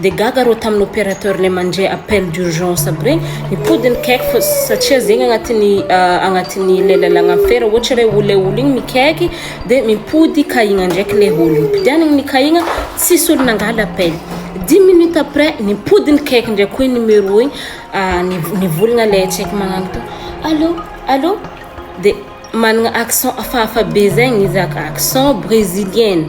dia gaga arô tamin'ny opérateur ilay mandre appel d'urgence aby regny mipody ny caique fa satria zegny agnatin'ny ah, agnatin'ny ilay lalagna fera ohatra ilay olona olo igny mikaiky dia mipody kahigna ndraiky ilay olo nipidianagny ny kahigna tsisy olo nangala appel dix minutes après nipody ny caique ndraiky koa igny numéro igny ah, niv- nivolagna ilay tsy haiko magnano to allo allo dia managna accent hafahafa be zegny izy ak- accent brésilienne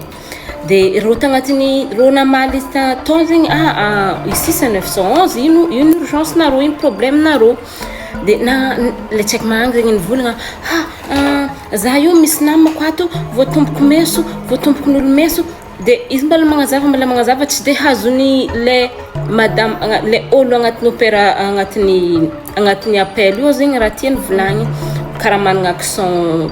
Dia reo tagnatiny reo namaly tao zegny ah, ah ici c'est 911 ino ino urgence nareo ino problème nareo dia na le tsy haiko magnana zegny nivolagna ha ah za io misy namako ato voatomboko meso voatomboko n'olo meso dia izy mbala magnazava mbala magnazava tsy dia hazon'ny le madama agna- le olo agnatin'ny opéra agnatin'ny agnatin'ny appel io zegny raha tiany volagny karaha magnana accent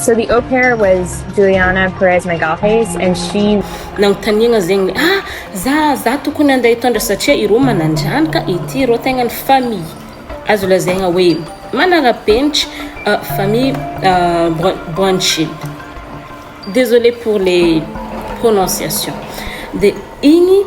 So the au pair was Juliana Perez Megalhes and she Nanontaniagna zegny hoe ah za za tokony handeha hitondra satria ireo manan-janaka ity ireo tegna ny famille azo lazaigna hoe manara-penitry famille Boinchil désolé pour les prononciations dia igny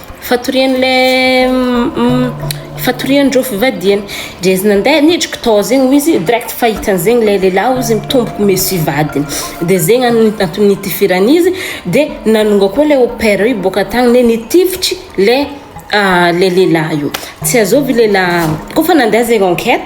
Fatorian'ilay fatorian'ireo fivadihany dia izy nandeha nidriky tao zegny hoy izy direct fa hitany zegny ilay lehilahy hoy izy mitombo meso hivadiny dia zegny antony nitifirany izy dia nanonga koa ilay au pair io boaka tany hoe nitifitry ilay ilay lehilahy io tsy azovy ilay lehilahy koa efa nandeha zegny enquête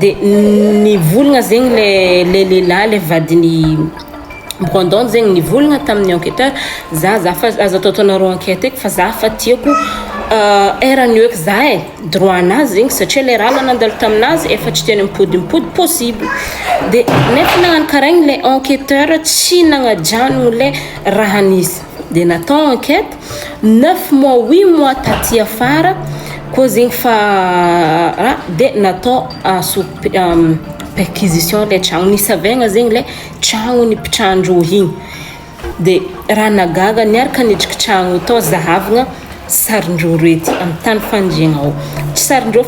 De nivolagna zegny le le lelah le vadiny Brandon zegny nivolagna taminy enqueteur za za fa aza ataotaonareo enquete eky fa za fa tiako erany eo eky za e droit nazy zegny satria le raha nandalo taminazy efa tsy tena mipody mipody possible de nefa nagnano karaha igny le enqueteur tsy nagnajano le raha nisy. dia natao enquête neuf mois huit mois taty afara koa zegny fa raha dia natao aso perquisition ilay tragno nisavaigna zegny ilay tragno nipitrahan-dreo igny dia raha nahagaga niaraka niditra tragno tao zahavagna sarin-dreo rety amin'ny tany fandriagna ao sarin-dreo